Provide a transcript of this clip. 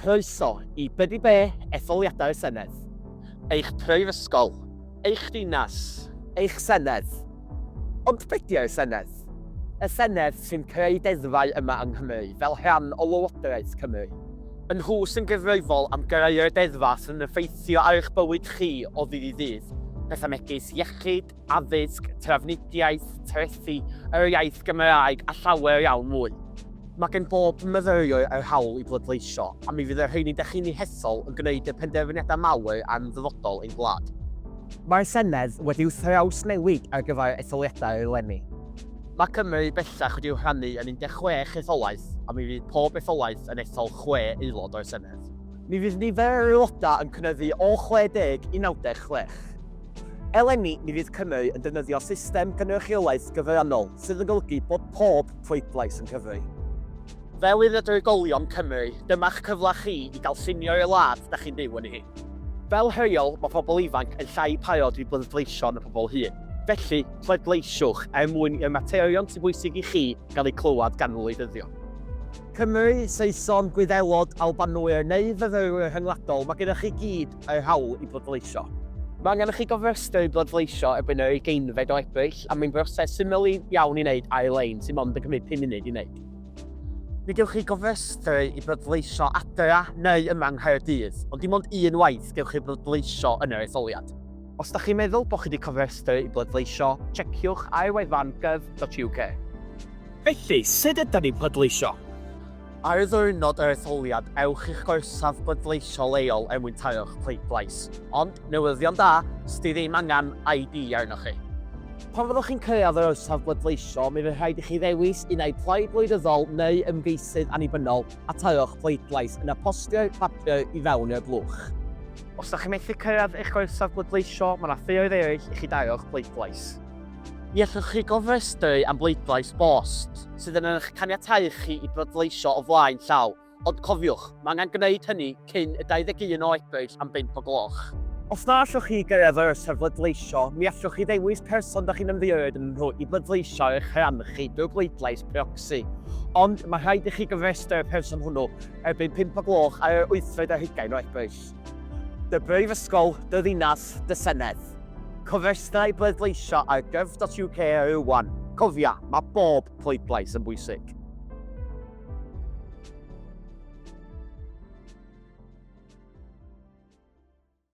Croeso i Be 'di Be, Etholiadau y Senedd. Eich prifysgol. Eich dinas. Eich senedd. Ond be 'di y senedd? Y senedd sy'n creu deddfau yma yng Nghymru fel rhan o Lywodraeth Cymru. Y nhw sy'n gyfrifol am greu'r deddfau sy'n effeithio ar eich bywyd chi o ddydd i ddydd, pethau megis iechyd, addysg, trafnidiaeth, trethi, yr iaith Gymraeg a llawer iawn mwy. Mae gen bob myfyriwr yr hawl i bleidleisio, a mi fydd y rheini da chi'n eu hethol yn gwneud y penderfyniadau mawr am ddyfodol ein gwlad. Mae'r Senedd wedi'w thrawsnewid ar gyfer etholiadau eleni. Mae Cymru bellach wedi'w rhannu yn 16 etholaeth, a mi fydd pob etholaeth yn ethol chwe aelod o'r Senedd. Mi fydd nifer yr aelodau yn cynyddu o 60 i 96. Eleni, mi fydd Cymru yn defnyddio system cynrychiolaeth gyfrannol sydd yn golygu bod pob pleidlais yn cyfri. Fel un o drigolion Cymru, dyma'ch cyfle chi i gael llunio i'r wlad da chi'n byw ynddi hi. Fel rheol, mae pobl ifanc yn llai parod i bleidleisio na phobl hŷn. Felly, pleidleisiwch er mwyn i'r materion sy'n bwysig i chi gael eu clywed gan wleidyddion. Cymry, Saeson, Gwyddelod, Albanwyr neu fyfyrwyr rhyngwladol, mae gennych chi gyd eu hawl i bleidleisio. Mae angen i chi gofrestru i bleidleisio erbyn yr ugeinfed o Ebrill, a mae'n broses syml iawn i wneud ar-lein sy'n mond yn cymryd pum munud i wneud. Ni gewch chi gofrestru i bleidleisio adra neu yma yng Nghaerdydd, ond dim ond un waith gewch chi bleidleisio yn yr etholiad. Os ydych chi'n meddwl bod chi wedi cofrestru i bleidleisio, tsiekiwch ar wefan gov.uk. Felly, sut ydyn ni'n pleidleisio? Ar ddiwrnod yr etholiad, ewch i'ch gorsaf bleidleisio leol er mwyn taro'ch pleidlais. Ond, newyddion da, 'sdi ddim angen ID arnoch chi. Pan fyddwch chi'n cyrraedd yr orsaf bleidleisio, mi fydd rhaid i chi ddewis un ai Plaid Wleidyddol neu Ymgeisydd Annibynnol a taro'ch pleidlais, yna postio'r papur i fewn i'r blwch. Os da chi methu cyrraedd eich gorsaf bleidleisio, mae 'na ffioedd eraill i chi daro'ch pleidlais. Ni allwch chi gofrestru am bleidlais bost, sydd yn eich caniatáu chi i bleidleisio o flaen llaw, ond cofiwch, mae angen gwneud hynny cyn y 21 o Ebrill am bump o gloch. Os na allwch chi gyrraedd yr amser bleidleisio, ni allwch chi ddewis person dych chi'n ymddiheuro ynddyn nhw i bleidleisio ar eich rhan chi drwy bleidlais proxy. Ond, mae rhaid i chi gofrestru y person hwnnw erbyn pump o gloch ar yr wythfed ar hugain o Ebrill. Dy Brifysgol, dy ddinas, dy senedd. Cofrestrau bleidleisio ar gov.uk rŵan. Cofia, mae bob pleidlais yn bwysig.